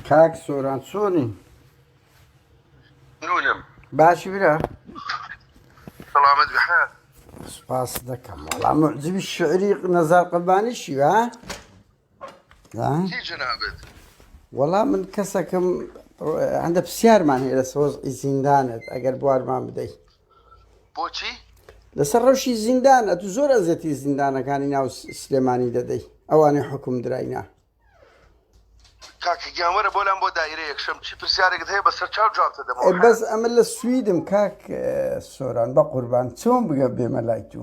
کاک سۆران چۆنی نونم باشی برا سلامت بحال سپاس دەکەم وەڵام معجبی شعری نەزار قەبانی شیوە جنابت وەڵام من کەسەکەم هەندە پرسیارمان هەیە لە سۆز ئیزیندانت ئەگەر بوارمان بدەیت بۆچی لەسەر ڕەوشی زیندان ئەتو زۆر ئەزەتی زیندانەکانی ناو سلێمانی دەدەی ئەوانەی حکوم دراینا کاکگیانوەرە بۆ لام بۆ دایرە یەکشەم چی پرسیارێکت هەیە بەسەر چاو جوابتە دەمەوە بەس ئەمە لە سویدم کاک سۆران بە قوربان چۆن بگە بێمە لای تو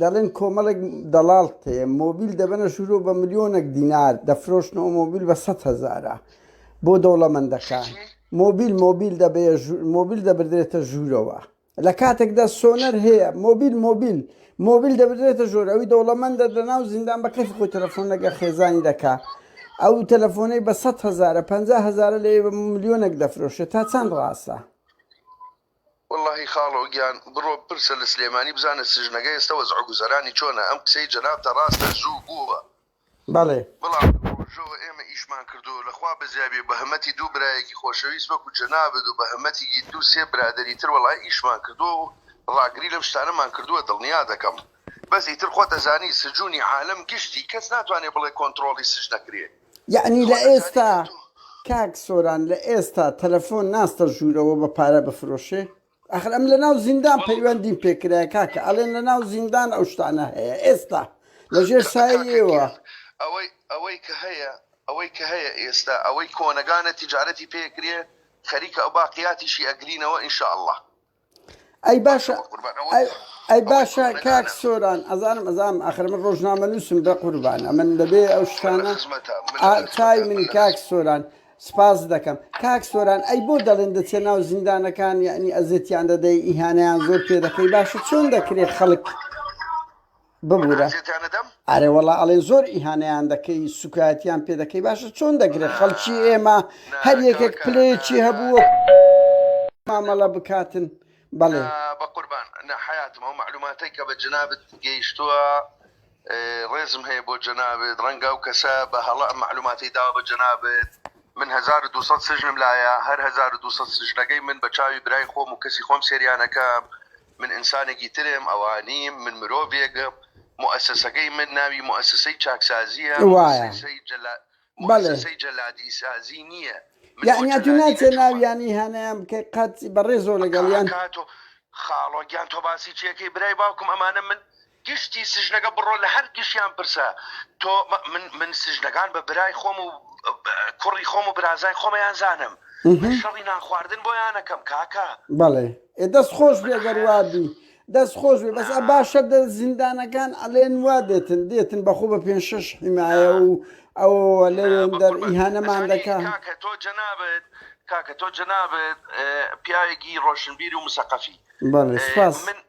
دەڵێن کۆمەڵێک دەڵاڵ تێ مۆبیل دەبەنە ژورۆ بە ملیۆنێک دینار دەفرۆشنەوە مۆبیل بە سە هزارە بۆ دەوڵەمەندەکە مۆبیل مۆبیل دەبێ مۆبیل دەبدرێتە ژوورەوە لە کاتێکدا سۆنەر هەیە مۆبیل مۆبیل مۆبیل دەبدرێتە ژۆر ئەوی دەوڵەمەندە لە ناو زیندان بە کەف خۆی تەلەفۆن لەگە خێزانی دەکا ئەو تەلەفۆنەی بە 100 هزارە 5 هزارە لە ملیۆنێک دەفرۆشێت تا چەند ڕاستە وەڵاهی خاڵۆ گیان بڕۆ بپرسە لە سلێمانی بزانە سجنەگە ئێستە وەزعو گوزەرانی چۆنە ئەم قسەی جەنابتە ڕاستە زوو بووە بەڵێ. بەڵام لەو ڕۆژەوە ئێمە ئیشمان کردووە لە خوا بەزیابێ بە هەمەتی دوو برایەکی خۆشەویست وەکو جەنابت و بە هەمەتیگی دوو سێ برادەری تر وەڵاهی ئیشمان کردووە و ڕاگری لەم شتانەمان کردووە دڵنیادەکەم بەس ئیتر خۆت ئەزانی سجونی عالەم گشتی کەس ناتوانێ بڵێ کۆنتڕۆڵی سجن ئەکرێ یەعنی لە ئێستا کاک سۆران لە ئێستا تەلەفۆن ناستە ژوورەوە بە پارە بفرۆشێ؟ ئەخر ئەم لە ناو زیندان پەیوەندیم پێ کرایە کاکە ئەڵێن لە ناو زیندان ئەو شتانە هەیە ئێستا لە ژێر سایەی ئێوە. ئەوەی ئەوەی کە هەیە ئەوەی کە هەیە ئێستا ئەوەی کۆنەگانە تیجارەتی پێ ئەکرێ خەریکە ئەو باقیاتیشی ئەگرینەوە ان شاء اللە. ئەی باشە ئەی باشە کاک سۆران ئەزانم ئەزانم ئەخر من ڕۆژنامە نووسم بە قوربان ئەمن دەبێ ئەو شتانە چای من کاک سۆران سپاس دەکەم کاک سۆران ئەی بۆ دەڵێن دەچێت ناو زیندانەکان یعنی ئەزێتیان دەدەی ئیهانیان زۆر پێ دەکەی باشە چۆن دەکرێت خەڵک ببورە ئارێ وەڵا ئەڵێن زۆر ئیهانەیان دەکەی سوکایەتیان پێ دەکەی باشە چۆن دەگرێت خەڵکی ئێمە هەر یەکێک پلەیەکی هەبوو مامەڵە بکاتن بەڵێ بە قوربان نەحیاتم ئەو معلوماتەی کە بە جنابت گەیشتووە ڕێزم هەیە بۆ جەنابێت ڕەنگە و کەسە بە هەڵە معلوماتی دا بە جەنابێت من 1200 سژنم لایە هەر 1200 سژنەکەی من بە چاوی برای خۆم و کەسی خۆم سریانەکە من ئینسانێکی ترم، ئەوە نیم، من مرۆڤێکم، موئەسەسەکەی من ناوی موئەسەسەی چاکسازییە، موئەسەسەی جەلادیسازی نییە. یەعنی تۆ ناچێ ناویانی هانایان بکەی قەت؟ بەڕێزەوە لەگەڵیان. کاکە کاتۆ، خاڵۆ گیان تۆ باسی چی ئەکەی برای باوکم، ئەمانە من گشتی سجنەکە بڕۆ لە هەر گشیان پرسە تۆ من من سجنەکان بە برای خۆم و کوڕی خۆم و برازای خۆمیان زانم من شەڕی نان خواردن بۆیان ئەکەم کاکە. بەڵێ ئێ دەست خۆش بێ گەر وا بی دەست خۆش بێ بەس ئە باشە دە زیندانەکان ئەلێن وا دێتن دێتن بە خۆ بە پێنج شەش حیمایە و ئەوەوە لەوێن دەر ئیهانەمان دەکا. کاکە تۆ جەنابت کاکە تۆ جەنابت پیاوێکی ڕۆشنبیر و مسەقەفی بەڵێ سوپاس من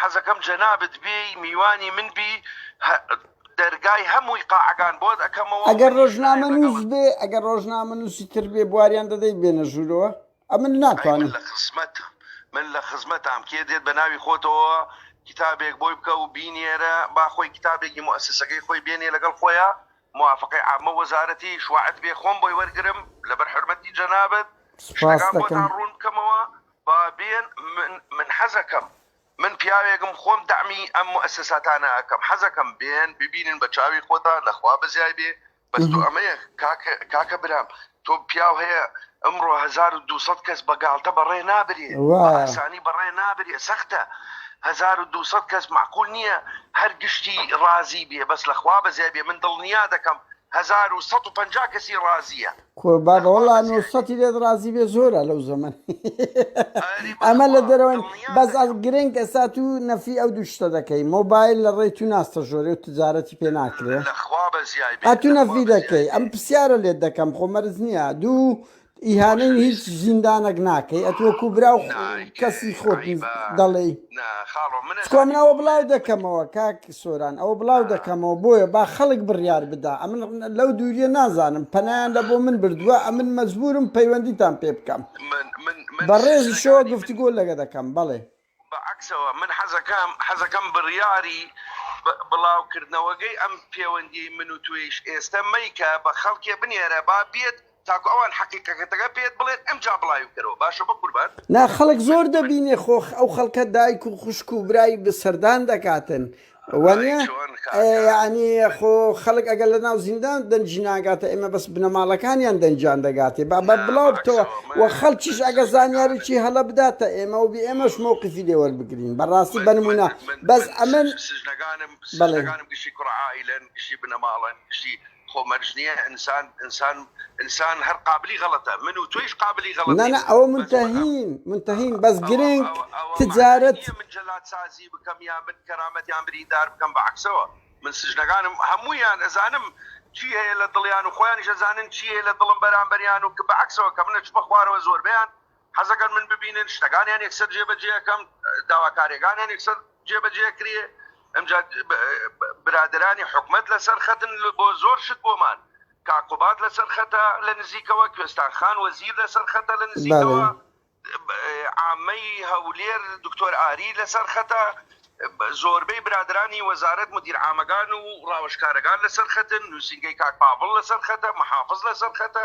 حەزەکەم جەنابت بێی میوانی من بی هە دەرگای هە مووی قاعەگان بۆت ئەکەمەوە ئەگەر ڕۆژنامە نووس بێ ئەگەر ڕۆژنامە نووسی تر بێ بواریان دەدەی بێنە ژوورەوە ئەمن ناتوانم لە خزمەت من لە خزمەتام کێ دێت بە ناوی خۆتەوە کتابێک بۆی بکە و بینێرە با خۆی کتابێکی موسسەکەی خۆی بێنێ لەگەڵ خۆیان موافقی عامە وەزارەتی شوعت بێ خۆم بۆی وەرگرم لەبەر حرمەتی جەنابت شتەکان بۆتان ڕوون بکەمەوە با بێن من من حەزەکەم من پیاوێکم خۆم دەعمی ئەم موئەسەساتانە ئەکەم حەزەکەم بێن ببینن بە چاوی خۆتان لە خوا بەزیای بێ بەس تۆ ئەمەیە کاک کاکە برام تۆ پیاو هەیە ئەمڕۆ هەزار و دوو سەد کەس بە گاڵتە بەڕێ نابرێ بە ئاسانی بەڕێ نابرێ سەختە هەزار و دوو سەد کەس مەعقول نییە هەر گشتی ڕازی بێ بەس لە خوا بەزیای بێ من دڵنیا دەکەم هەزار و سەد و پەنجا کەسی ڕازییە قوربان بە وەڵا نوسەتی لێت ڕازی بێ زۆرە لەو زەمن ئەمە لە دەرەوەن بەس ئەڵ گرنگ ئێستا تو نەفی ئەو دوو شتە دەکەی مۆبایل لە ڕێی تو ناستە ژۆرێ و تجارەتی پێ ناکرێ ئەتو نەفی دەکەی ئەم پرسیارە لێت دەکەم خۆ مەرز نییە دوو ئیهانەی هیچ زیندانەک ناکەی ئەتوەکو برا و کەسی خۆت دەڵێی سکۆ من ئەوە بڵاو دەکەمەوە کاک سۆران ئەوە بڵاو دەکەمەوە بۆیە با خەڵک بڕیار بدا ئەمن لەو دووریە نازانم پەنایان لە بۆ من بردووە ئەمن مەجبورم پەیوەندیتان پێ بکەم بە ڕێزی شۆ گفتگۆ لەگە دەکەم بەڵێ بەعکسەوە من حەزەکەم حەزەکەم بڕیاری بڵاوکردنەوەگەی ئەم پێوەندی من و توێیش ئێستە مەیکە بە خەڵکێ بنێرە با بێت تاکو ئەوان حەقیقەکەتەکە پێت بڵێت ئەمجا بڵاوی بکەرەوە باشە بەقوربان. نا خەڵک زۆر دەبینێ خۆ ئەو خەڵکە دایک و خوشک و برای بە سەردان دەکاتن وەنیە یانی خۆ خەڵک ئەگەر لە ناو زیندان دەنجی ناگاتە ئێمە بەس بنەماڵەکانیان دەنجان دەگاتێ با بە بڵاو بتەوە و خەڵکیش ئەگە زانیاریی هەڵە بداتە ئێمە و بێ ئێمەش مەوقفی لێ وەربگرین بەڕاستی بەنمونە بەس ئەمن بەڵێ. خۆ مەرج نیە ئینسان ئینسان ئینسان هەر قابلی غەڵەتە من و تۆیش قابلی غەڵەتین نانا ئەوە منتەهین منتەهین بەس گرنگ تجارەت. ئەوە مەعنای نیە من جەلاد سازی بکەم یان من کەرامەت یان بریندار بکەم بە عەکسەوە من سجنەکانم هەموویان ئەزانم چی هەیە لە دڵیان و خۆیانیش ئەزانن چی هەیە لە دڵم بەرامبەریان و کە بە عەکسەوە کە من ئەچمە خوارەوە زۆربەیان حەزەکەن من ببینن شتەکانیان یەکسەر جێبەجێکەم داواکاریەکانیان یەکسەر جێبەجێ کرێ ئەمجا برادرانی حکومت لەسەر خەتن بۆ زۆر شت بۆمان کاکوبات لەسەر خەتە لە نزیکەوە کوێستان خان وەزیر لەسەر خەتە لە نزیکەوە عامەی هەولێر دکتۆر ئاری لەسەر خەتە زۆربەی برادرانی وەزارت مدیر عامەگان و ڕاوشکارەگان لەسەر خەتن نووسنگەی کاک پاڤڵ لەسەر خەتە محافز لەسەر خەتە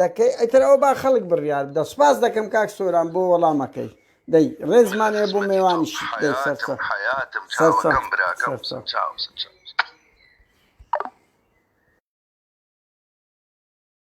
دەکەی ئیتر ئەوە با خەڵک بڕیار بدە سوپاس دەکەم کاک سۆران بۆ وەڵامەکەی دەی ڕێزمان هەیە بۆ مێوانیشت دەی سەرچە حەیاتم حەیاتم چاوەکەم براکەم سەرچە چاو سەرچە